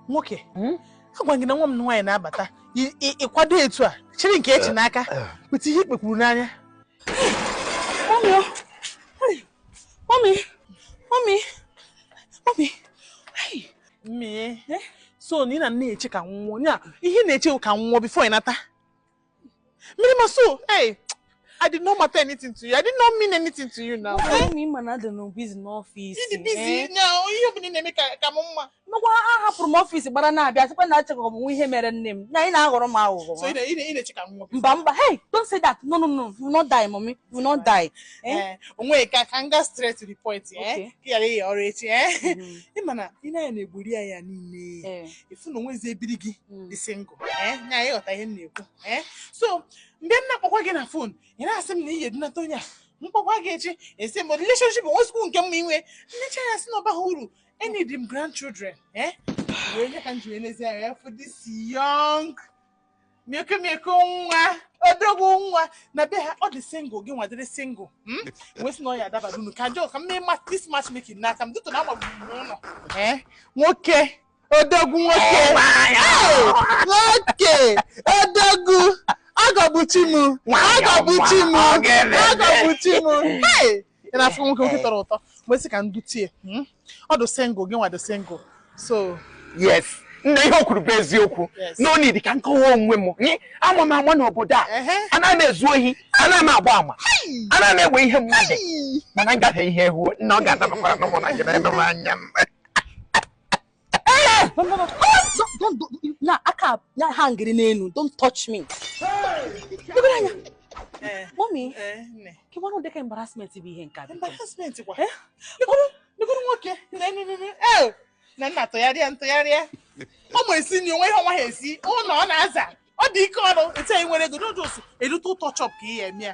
nwoke hmm? agwa gị na nwa m nwaanyị na-abata ịkwado etu a chiri nke echi eh, n'aka eh. weta ihe i kpekwuru n'anya so na ị na-eche ka m nwụọ ị na-eche ka m nwụọ before ị nata Mmirimma so, hey! I did not matter anything to you. I did not mean anything to you now. Why me ma na adị m nnọọ busy n'office. You busy eh? now. You be na me ka ka mama. Nọkwa ahapụrụ m office gbara na-abịa sịkwa na-echekwa mụ ihe mere nne m. Na ị na-aghọrọ m aghụghọ. So ị ị ị che ka m. Mba mba. Hey, don't say that. No no no. You will not die, mommy. You will not die. Eh? eh o nwe ka ka m gaa straight to the point eh. Ka ị yara ịya ọrụ echi eh. Ị mm-hmm. mana ị na n'ebiri gị niile. Eh. ị fụ na o nwezi ebiri gị hmm. dị single eh, nya ị ghọta ihe m na-ekwu eh. so mgbe m na-akpọkwa gị na phone ị na-asị m na ị ga-edunata onye a m kpọkwa gị echi ị sị m relationship o nwe school nke mma i nwe nnecha ya sị na ọ baha uru I need m grandchildren ee eh. wee nye ka m ji wee n'ezi anya ya for this young mịkụmịkụ nwa odogwu nwa na be ha ọ dị single gị nwa dịrị single hmm? wee sị na ọ ya-adabara unu ka jọọ ka m mee this matchmaking n'aka m dịtụ na agbagburu n'ụlọ eh? nwoke odogwu nwoke nwoke odogwu agọbuchi m agọbuchi m agọbuchi m ị na-afụ nwoke nwoke tọrọ ụtọ wee sị ka m dute hmm? ọ dị single gị nwa dị single so yes nna ihe o kwuru bụ eziokwu no need ka m kọwaa onwe m ama m ama n'obodo a ana m ezu ohi ana m agba ama ana m ewe ihe mmadụ mana ngafe ihe ehu na ọ ga-adabakwaranụ mụ na gị na-eme m anya m na aka na hangiri n'elu don't touch me debere anya mommy ke nwanụ dịka embarrassment bụ ihe nke a embarrassment kwa negoro nwoke nna nna tụgharịa tụgharịa ọ ma esi nri o nwe ihe ọ naha esi ụlọ ọ na-aza ọ dị ike ọrụ etu anyị nwere ego just a little touch up ka ị ya-eme ya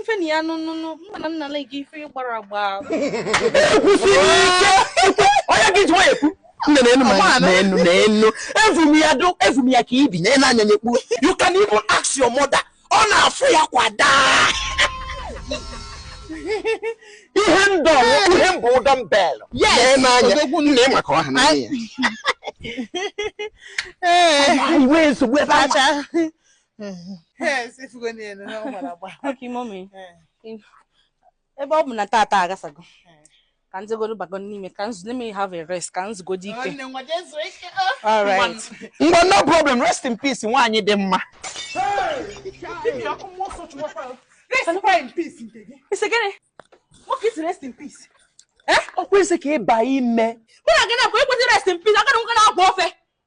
ife na ya nụnụnụ mma na nna na gị ife ị gbara agba onye gị jụọ ekwu nne na enu ma na enu na enu evu m ya do evu m ya ka ibi na enu anya nyekpu you can even ask your mother ọ na-afụ ya kwa daa ihe ndọ ihe mbụ ụdọ mbelụ na enu anya nne ị maka ọha na nne ya iwe nsogbu ebe a ebe ọ bụ na tata agasago ka m jegodi bago n'ime ka m zu let me have a rest ka m zugodi ike ngwa no problem rest in peace nwaanyị dị mma ị sị gịnị nwoke ị sị rest in peace ọ kwa ị sị ka ị baa ime mụ na gị na-akwa ekwesị rest in peace agara nwoke na-akwa ofe